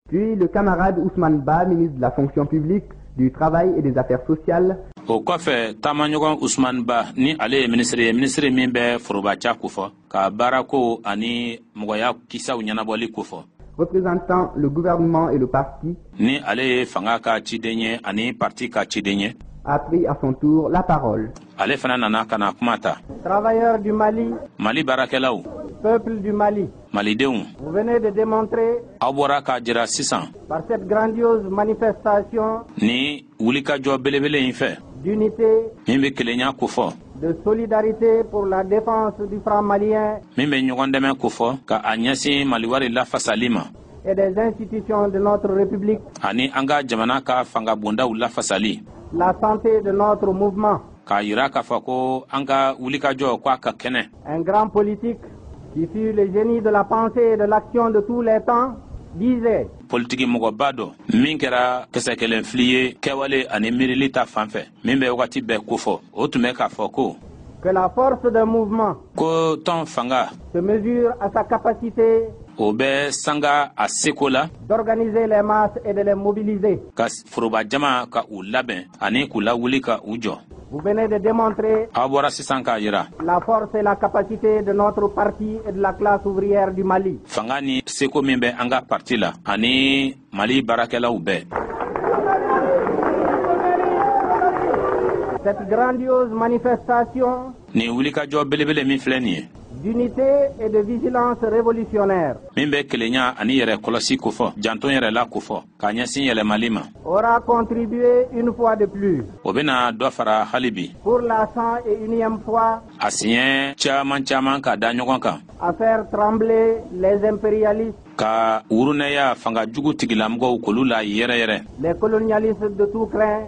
Puis le camarade Ousmane Ba, ministre de la fonction publique, du travail et des affaires sociales. o kɔfɛ taamaɲɔgɔn usman ba ni ale ye minisiri ye minisiri min bɛ forobaca kofɔ ka baarako ani mɔgɔya kisaw ɲɛnabɔli kofɔ représentant le gouvernement et le parti ni ale ye fanga ka ciden ye ani parti ka ciden ye a pris à son tour la parole ale fana nana ka na kuma ta travailleurs du mali mali baarakɛlaw peuple du mali malidenw vous venez de démontrer aw bɔra k'a jira sisan par cette grandiose manifestation ni wulikajɔ belebele in fɛ d'unité min bɛ kelenya kofɔ de solidarité pour la défense du franc malien min bɛ ɲɔgɔn dɛmɛ kofɔ ka a ɲɛsin maliwari lafasali ma et des institutions de notre république ani an ka jamana ka fangabondaw lafasali la santé de notre mouvement k'a yira k'a fɔ ko an ka wulikajɔ ko a ka kɛnɛ un grand politique qui fut le génie de la pensée et de l'action de tous les temps disait politiki mɔgɔba dɔ min kɛra kisɛ kelen fili ye kɛwale ani miirili ta fan fɛ min bɛ wagati bɛɛ kofɔ o tun bɛ k'a fɔ ko que la force d'un mouvement ko tɔn fanga se mesure à sa capacité o bɛ sanga a seko la d'organiser les masses et de les mobiliser ka foroba jama ka u labɛn ani k'u lawuli ka u jɔ Vous venez de démontrer aw bɔra sisan k'a yira la force et la capacité de notre parti et de la classe ouvrière du Mali. fanga ni seko min bɛ an ka parti la ani mali baarakɛlaw bɛɛ Cette grandiose manifestation nin wulikajɔ belebele min filɛ nin ye d'unité et de vigilance révolutionnaire min bɛ kelenya ani yɛrɛ kɔlɔsi kofɔ janto yɛrɛ la kofɔ k'a ɲɛsin yɛlɛmali ma aura contribué une fois de plus o bɛna dɔ fara hali bi pour la cent et unième fois a siɲɛ caman caman ka da ɲɔgɔn kan à faire trembler les impérialistes ka wurunɛya fanga jugu tigilamɔgɔw k'olu layɛrɛyɛrɛ les colonialistes de tout crin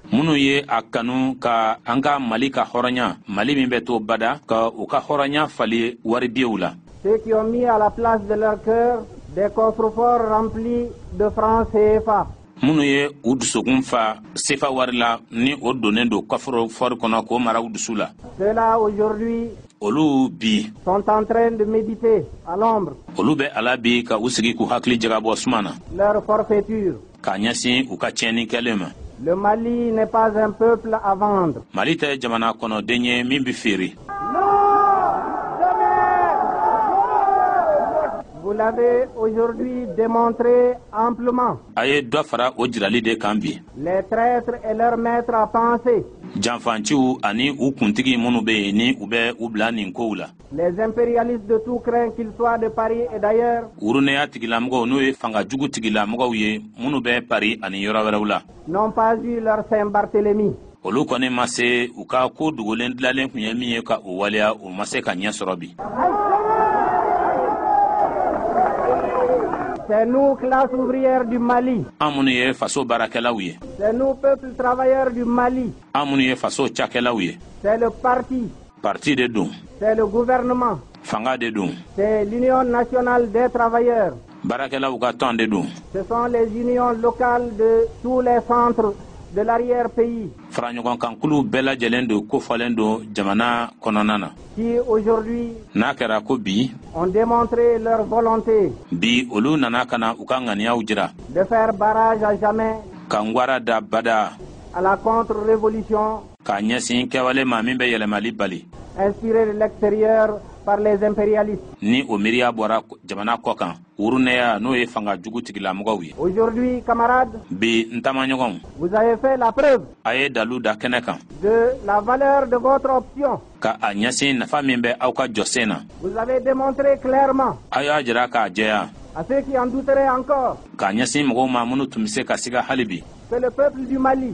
minnu ye a kanu ka an ka mali ka hɔrɔnya mali min bɛ to bada ka u ka hɔrɔnya falen waribiyew la ceux qui ont mis à la place de leur cœur des coffres-forts remplis de francs CFA minnu ye u dusukun fa sefa wari la ni o donnen don kɔfɔrɔfɔri kɔnɔ k'o mara u dusu la ceux-là aujourd'hui olu bi sont en train de méditer à l'ombre olu bɛ a la bi ka u sigi k'u hakili jagabɔ suma na leur forfaiture k'a ɲɛsin u ka tiɲɛni kɛlen ma Le Mali n'est pas un peuple à vendre. Mali tɛ jamana kɔnɔden ye min bɛ feere. Vous l'avez aujourd'hui démontré amplement. A ye dɔ fara o jirali de kan bi. Les traîtres et leurs maîtres à penser. Janfanciw ani u kuntigi minnu bɛ yen ni u bɛ u bila nin kow la. Les impérialistes de tout crin qu'ils soient de Paris et d'ailleurs. Wuruneya tigilamɔgɔw n'o ye fanga jugu tigilamɔgɔw ye minnu bɛ Paris ani yɔrɔ wɛrɛw la. N'ont pas eu leur Saint-Barthélemy. olu kɔni ma se u ka ko dogolen dilalen tun ye min ye ka o waleya o ma se ka ɲɛ sɔrɔ bi. C'est nous, classe ouvrière du Mali. An minnu ye faso baarakɛlaw ye. C'est nous, peuple travailleur du Mali. An minnu ye faso cakɛlaw ye. C'est le parti parti de don c'est le gouvernement fanga de don c'est l'union nationale des travailleurs baarakɛlaw ka tɔn de don ce sont les unions locales de tous les centres de l'arrière-pays faraɲɔgɔnkankulu bɛɛ lajɛlen don kofɔlen don jamana kɔnɔna na qui aujourd'hui n'a kɛra ko bi ont démontré leur volonté bi olu nana ka na u ka ŋaniyaw jira de faire barrage à jamais ka ngwara da bada à la contre-révolution k'a ɲɛsin kɛwale ma min bɛ yɛlɛmali bali inspirée de l'extérieur par les impérialistes. Ni o miiriya bɔra jamana kɔ kan, wurunɛya n'o ye fanga jugu tigilamɔgɔw ye. Aujourd'hui, camarades. Bi n taamaɲɔgɔnw. Vous avez fait la preuve. A ye dalu da kɛnɛ kan. De la valeur de votre option. Ka a ɲɛsin nafa min bɛ aw ka jɔsen na. Vous avez démontré clairement. A y'a jira k'a jɛya. À ceux qui en douteraient encore. K'a ɲɛsin mɔgɔw ma minnu tun bɛ se ka siga hali bi. Que le peuple du Mali.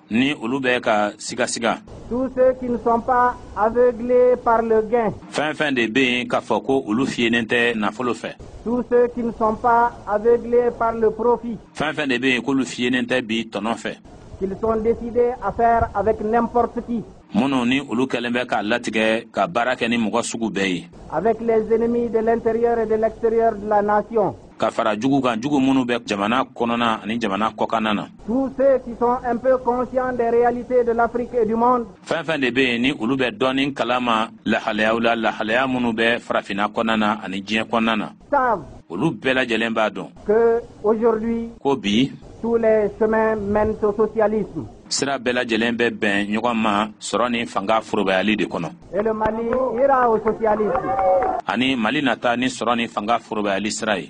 ni olu bɛ ka sigasiga tous ceux qui ne sont pas aveuglés par le gain fɛn fɛn de bɛ yen k'a fɔ ko olu fiyenen tɛ nafolo fɛ tous ceux qui ne sont pas aveuglés par le profit fɛn fɛn de bɛ yen k'olu fiyenen tɛ bi tɔnɔ fɛ qu'ils sont décidés à faire avec n'importe qui minnu ni olu kɛlen bɛ k'a latigɛ ka baara kɛ ni mɔgɔ sugu bɛɛ ye avec les ennemis de l'intérieur et de l'extérieur de la nation ka fara jugu kan jugu minnu bɛ jamana kɔnɔna ani jamana kɔkanna na tous ceux qui sont un peu conscients des réalités de l'Afrique et du monde fɛn fɛn de bɛ yen ni olu bɛ dɔɔnin kalama lahalayaw la lahalaya minnu bɛ farafinna kɔnɔna na ani diɲɛ kɔnɔna na olu bɛɛ lajɛlen b'a dɔn ko bi sira bɛɛ lajɛlen bɛ bɛn ɲɔgɔn ma sɔrɔ ni fanga forobayali de kɔnɔ ani mali nata ni sɔrɔ ni fanga forobayali sira ye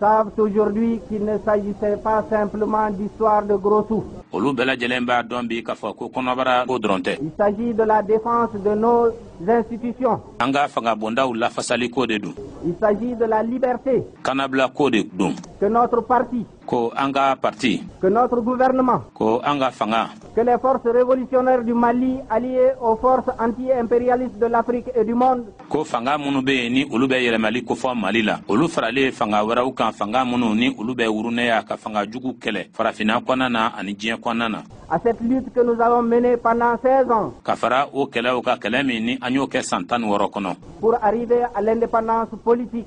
savent aujourd'hui qu'il ne s'agissait pas simplement d'histoire de gros sous. olu bɛɛ lajɛlen b'a dɔn bi k'a fɔ ko kɔnɔbara ko dɔrɔn tɛ. il s'agit de la défense de nos institutions. an ka fangabondaw lafasali ko de don. il s'agit de la liberté. kanabila ko de don. que notre parti. ko an ka parti. que notre gouvernement. ko an ka fanga. que les forces révolutionnaires du Mali alliées aux forces anti-impérialistes de l'Afrique et du monde. ko fanga minnu be yen ni olu bɛ yɛlɛmali kofɔ mali la olu faralen fanga wɛrɛw kan fanga minnu ni olu bɛ wurunɛya ka fanga jugu kɛlɛ farafina kɔnɔna na ani diɲɛ kɔnɔna na à cette lutte que nous avons menée pendant 16 ans. Ka fara o kɛlɛw kan kɛlɛ min ni an y'o kɛ san tan ni wɔɔrɔ kɔnɔ. Pour arriver à l'indépendance politique.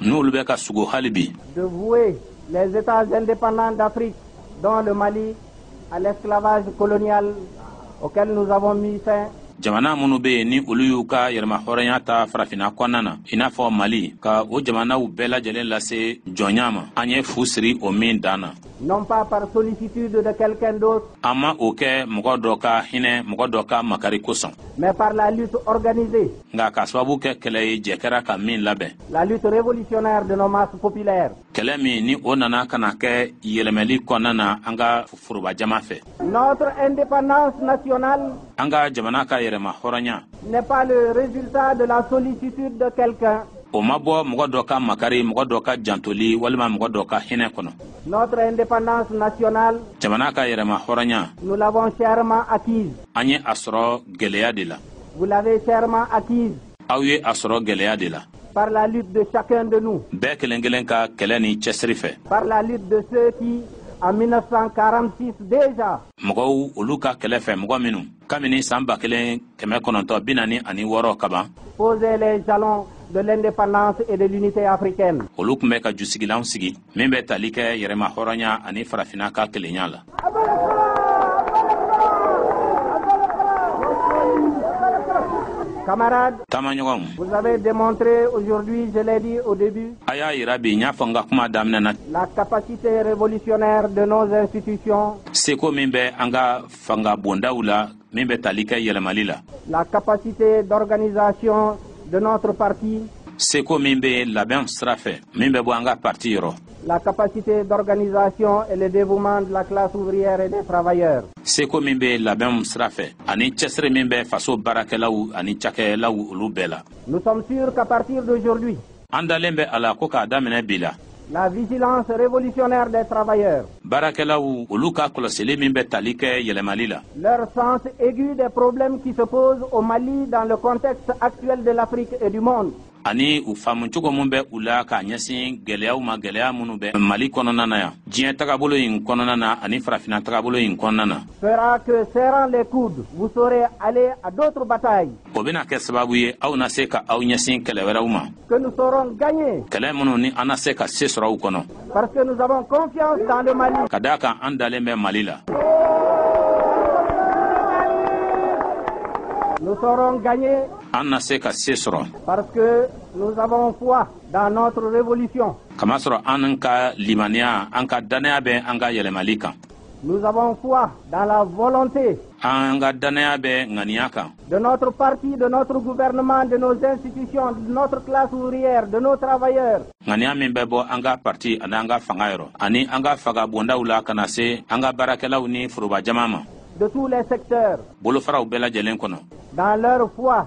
n'olu bɛ ka sugo hali bi de vouer les États indépendants d'Afrique, dont le Mali, à l'esclavage colonial auquel nous avons mis fin jamana minnu bɛ yen ni olu y'u ka yɛrɛmahɔrɔnya ta farafina kɔnɔna na i n'a fɔ mali ka o jamanaw bɛɛ lajɛlen lase jɔnya ma an ye fu siri o min dan na non pas par sollicitude de quelqu'un d'autre an ma o kɛ mɔgɔ dɔ ka hinɛ mɔgɔ dɔ ka makari kosɔn mais par la lutte organisée nka ka sababu kɛ kɛlɛ ye jɛ kɛra ka min labɛn la lutte révolutionnaire de nos masses populaires kɛlɛ min ni o nana ka na kɛ yɛlɛmɛli kɔnɔna na an ka foroba jama fɛ notre indépendance nationale an ka jamana ka yɛrɛma hɔrɔnya n'est pas le résultat de la sollicitude de quelqu'un o ma bɔ mɔgɔ dɔ ka makari mɔgɔ dɔ ka jantoli walima mɔgɔ dɔ ka hinɛ kɔnɔ notre indépendance nationale jamana ka yɛrɛma hɔrɔnya nous l'avons chèrement acquise an ye a sɔrɔ gɛlɛya de la Vous l'avez chèrement acquise. Aw ye a sɔrɔ gɛlɛya de la. Par la lutte de chacun de nous. Bɛɛ kelen kelen ka kɛlɛ ni cɛsiri fɛ. Par la lutte de ceux qui en 1946 déjà. Mɔgɔw olu ka kɛlɛ fɛ mɔgɔ minnu kabini san ba kelen kɛmɛ kɔnɔntɔn bi naani ani wɔɔrɔ kaban. Posaient les jalons de l'indépendance et de l'unité africaine. Olu tun bɛ ka jusigilanw sigi. min bɛ tali kɛ yɛrɛma hɔrɔnya ani farafina ka kelenya la Camarades, taamaɲɔgɔnw vous avez démontré aujourd'hui, je l'ai dit au début, a y'a yira bi n y'a fɔ n ka kuma daminɛ na la capacité révolutionnaire de nos institutions seko min bɛ an ka fanga bondaw la min bɛ tali kɛ yɛlɛmali la la capacité d'organisation de notre parti seko min bɛ labɛn sira fɛ min bɛ bɔ an ka parti yɔrɔ la capacité d'organisation et le dévouement de la classe ouvrière et des travailleurs seko min bɛ labɛnw sira fɛ ani cɛsiri min bɛ faso baarakɛlaw ani cakɛlaw olu bɛɛ la nous sommes sûrs qu'à partir d'aujourd'hui An dalen bɛ a la ko k'a daminɛ bi la. La vigilance révolutionnaire des travailleurs. Baarakɛlaw olu ka kɔlɔsili min bɛ tali kɛ yɛlɛmali la. Leur sens aigu des problèmes qui se posent au Mali dans le contexte actuel de l'Afrique et du monde. ani u faamu cogo min bɛ u la k'a ɲɛsin gɛlɛyaw ma gɛlɛya minnu bɛ mali kɔnɔna na yan diɲɛ tagabolo in kɔnɔna na ani farafina tagabolo in kɔnɔna na fera que serrant les coudes vous saurez aller à d'autres batailles o bɛna kɛ sababu ye aw na se ka aw ɲɛsin kɛlɛ wɛrɛw ma kɛlɛ minnu ni an na se ka se sɔrɔ u kɔnɔ ka daa kan an dalen bɛ mali la an na se ka se sɔrɔ kamasɔrɔ an ka limaniya an ka dannaya bɛ an ka yɛlɛmali kan an ka dannaya bɛ ŋaniya kan de notre parti de notre gouvernement de nos institutions de notre classe ouvrière de nos travailleurs ŋaniya min bɛ bɔ an ka parti ani an ka fanga yɔrɔ ani an ka fanga bondaw la ka na se an ka baarakɛlaw ni foroba jama ma de tous les secteurs bolofaraw bɛɛ lajɛlen kɔnɔ dans leur foi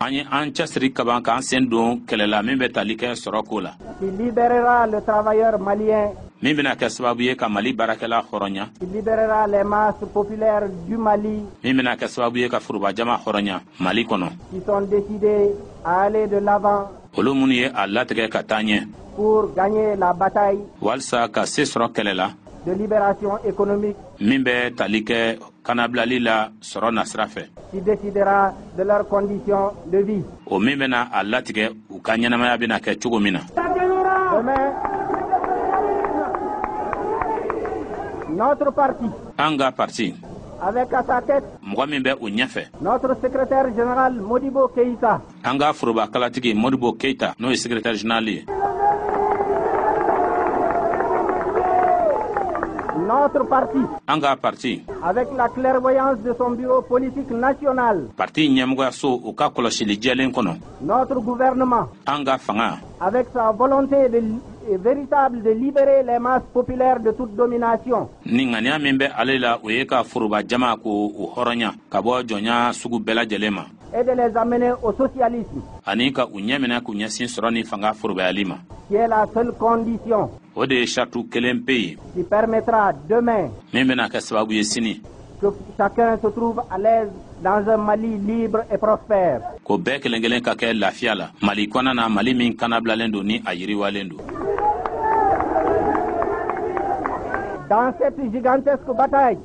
an ye an cɛsiri kaban k'an sen don kɛlɛ la min bɛ tali kɛ sɔrɔ ko la min bɛna kɛ sababu ye ka mali baarakɛla hɔrɔnya min bɛna kɛ sababu ye ka forobajama hɔrɔnya mali kɔnɔ olu minnu ye a latigɛ ka taa ɲɛ walisa ka se sɔrɔ kɛlɛ la min bɛ tali kɛ kanabilali la sɔrɔ nasira fɛ qui décidera de leurs conditions de vie o min bɛna a latigɛ u ka ɲɛnamaya bɛna kɛ cogo min na Demain, Notre parti. An ka parti. Avec à sa tête. Mɔgɔ min bɛ u ɲɛfɛ. Notre secrétaire général Modibo Keïta. an ka foroba kalatigi modibo keita n'o ye secrétaire général ye Notre parti, an ka parti avec la clairvoyance de son bureau politique national, parti ɲɛmɔgɔyaso u ka kɔlɔsili jɛlen kɔnɔ notre gouvernement, an ka fanga avec sa volonté de, euh, véritable de libérer les masses populaires de toute domination, ni ŋaniya min bɛ ale la o ye ka foroba jama k'o hɔrɔnya ka bɔ jɔnya sugu bɛɛ lajɛlen ma et de les amener au socialisme. Ani ka u ɲɛminɛ k'u ɲɛsin sɔrɔ ni fanga forobayali ma. Qui est la seule condition. O de ye saritu kelen pe ye. Qui permettra demain. Min bɛna kɛ sababu ye sini. Que chacun se trouve à l'aise dans un Mali libre et prospère. Ko bɛɛ kelen kelen ka kɛ lafiya la. Mali kɔnɔna na Mali min kanabilalen don ni a yiriwalen don. Dans cette gigantesque bataille.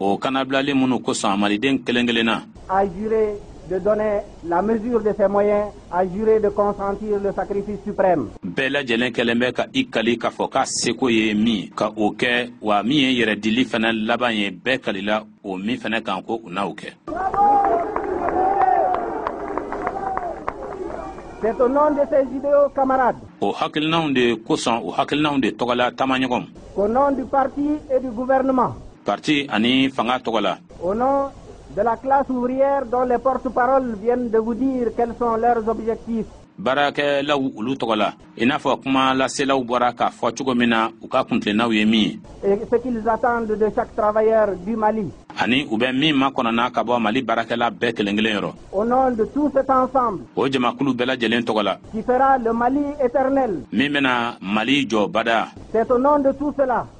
o kanabilali minnu kosɔn maliden kelen kelenna a juré de donner la mesure de ses moyens a juré de consentir le sacrifice suprême bɛɛ lajɛlen kɛlen bɛ ka i kali k'a fɔ k'a seko ye min ka o kɛ wa min ye yɛrɛdili fɛnɛ laban ye bɛɛ kalila o min fɛnɛ kan ko u n'o kɛ C'est au nom de ces idéaux camarades. O hakilinanw de kosɔn o hakilinanw de tɔgɔla taamaɲɔgɔn. Qu'au nom du parti et du gouvernement. Parti ani fanga tɔgɔ la. Au nom de la classe ouvrière dont les porte-paroles viennent de vous dire quels sont leurs objectifs. baarakɛlaw olu tɔgɔ la i n'a fɔ kuma laselaw bɔra k'a fɔ cogo min na u ka kuntilennaw ye min ye et ce qu'ils attendent de chaque travailleur du Mali ani u bɛ min makɔnɔna ka bɔ mali baarakɛla bɛɛ kelen kelen yɔrɔ au nom de tout cet ensemble o jamakulu bɛɛ lajɛlen tɔgɔ la qui fera le Mali éternel min bɛna mali jɔ badaa c'est au nom de tout cela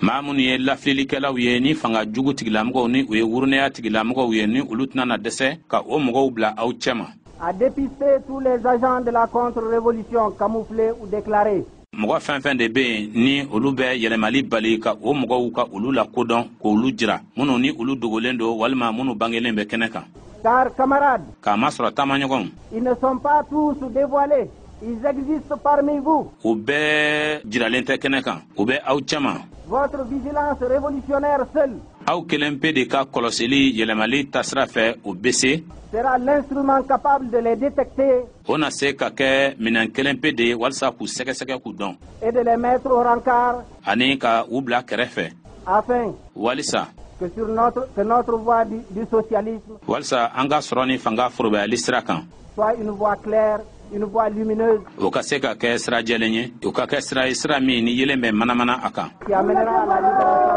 maa minnu ye lafililikɛlaw ye ni fanga jugu tigilamɔgɔw ni u ye wurunɛya tigilamɔgɔw ye ni olu tɛna na dɛsɛ ka o mɔgɔw bila aw cɛma à dépister tous les agents de la contre-révolution camouflés ou déclarés mɔgɔ fɛn fɛn de bɛ yen ni olu bɛ yɛlɛmali bali ka o mɔgɔw ka olu lakodɔn k'olu jira minnu ni olu dogolen don walima minnu bangelen bɛ kɛnɛ kan car camarades k'a masɔrɔ taamaɲɔgɔnw ils ne sont pas tous dévoilés Ils existent parmi vous. U bɛɛ jiralen tɛ kɛnɛ kan. U bɛ aw cɛma. Votre vigilance révolutionnaire seule. Aw kelen pe de ka kɔlɔsili yɛlɛmali taasira fɛ o bɛ se. Sera l'instrument capable de les détecter. O na se ka kɛ minɛn kelen pe de ye walisa k'u sɛgɛsɛgɛ k'u dɔn. Et de les mettre au rancart. Ani ka u bila kɛrɛfɛ. Afin. Walisa. Que sur notre, que notre voie du, du socialisme. Walisa an ka sɔrɔ ni fanga forobayali sira kan. soit une voie claire une voie lumineuse. O ka se ka kɛ sira jɛlen ye, o ka kɛ sira ye sira min ni yeelen bɛ manamana a kan. Qui amènera à la libération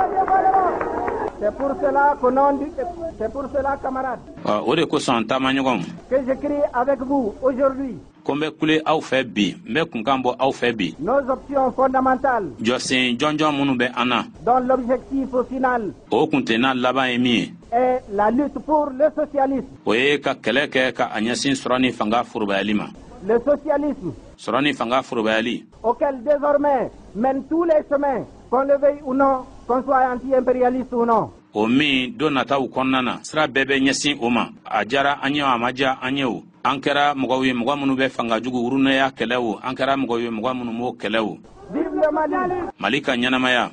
du Mali. C'est pour cela que non dit, c'est pour cela camarades. O de kosɔn taamaɲɔgɔnw. Que je crie avec vous aujourd'hui. ko n bɛ kule aw fɛ bi n bɛ kunkan bɔ aw fɛ bi. nos options fondamentales. jɔsen jɔnjɔn minnu bɛ an na. dont l'objectif final. o kuntilenna laban ye min ye. est la lutte pour le socialisme. o ye ka kɛlɛ kɛ ka a ɲɛsin sɔrɔ ni fanga forobayali ma. le socialisme. sɔrɔ ni fanga forobayali. auquel désormais mènent tous les chemins qu'on le veuille ou non qu'on soit anti-impérialiste ou non. o min don nataw kɔnɔna na sira bɛɛ bɛ ɲɛsin o ma a diyara an ye o a ma diya an ye o an kɛra mɔgɔw ye mɔgɔ minnu bɛ fanga jugu wurunɛya kɛlɛ o an kɛra mɔgɔw ye mɔgɔ minnu m'o kɛlɛ o mali ka ɲɛnamaya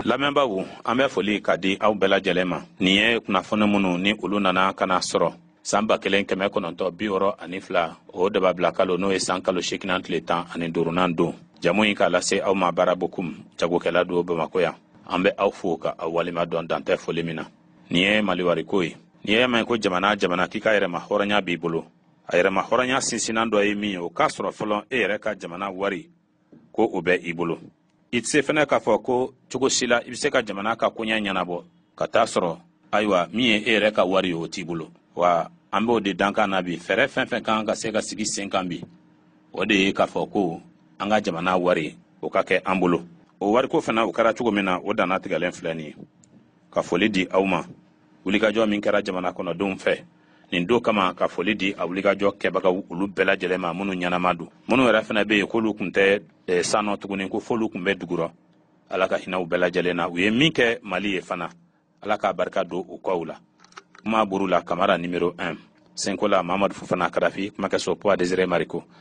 lamɛnbaaw an bɛ folikan di aw bɛɛ lajɛlen ma nin ye kunnafoni minnu ni olu nana ka na sɔrɔ san ba kelen kɛmɛ kɔnɔntɔ bi wɔɔrɔ ani fila o dababila kalo n'o ye san kalo seeginnan tile tan ani duurunan don jamu in k'a lase aw ma Bara Bokum jagokɛla don bamakɔ yan an bɛ aw fo ka aw waleɲuman dɔn dan tɛ foli min na nin ye maliwariko ye n'i y'a mɛn ko jamana jamana k'i ka yɛrɛma hɔrɔnya b'i bolo a yɛrɛma hɔrɔnya sinsinnan dɔ ye min ye o k'a sɔrɔ fɔlɔ e yɛrɛ ka jamana wari ko o bɛ i bolo i tɛ se fɛnɛ k'a fɔ ko cogo si la i bɛ se ka jamana ka koɲɛ ɲɛnabɔ ka t'a sɔrɔ ayiwa min ye e yɛrɛ ka wari ye o t'i bolo wa an b'o de dankan na bi fɛɛrɛ fɛn fɛn kan ka se ka sigi sen kan bi o de ye k'a fɔ ko an ka jamana wari o ka kɛ an bolo o wariko fana o kɛra cogo min na o dannatigɛlen filɛ nin ye ka foli di aw ma wulikajɔ min kɛra jamana kɔnɔdenw fɛ nin don kama ka foli di a wulikajɔ kɛbagaw olu bɛɛ lajɛlen ma minnu ɲɛnama don minnu yɛrɛ fana bɛ yen k'olu kun tɛ eh, san nɔ tuguni ko f'olu kun bɛ dugurɔ ala ka hinɛ u bɛɛ lajɛlen na u ye min kɛ mali ye fana ala k'a barika don u kɔw la kuma buru la kamara nimero 1 senkola mamadu fofana karafi kumakɛso poids desire mariko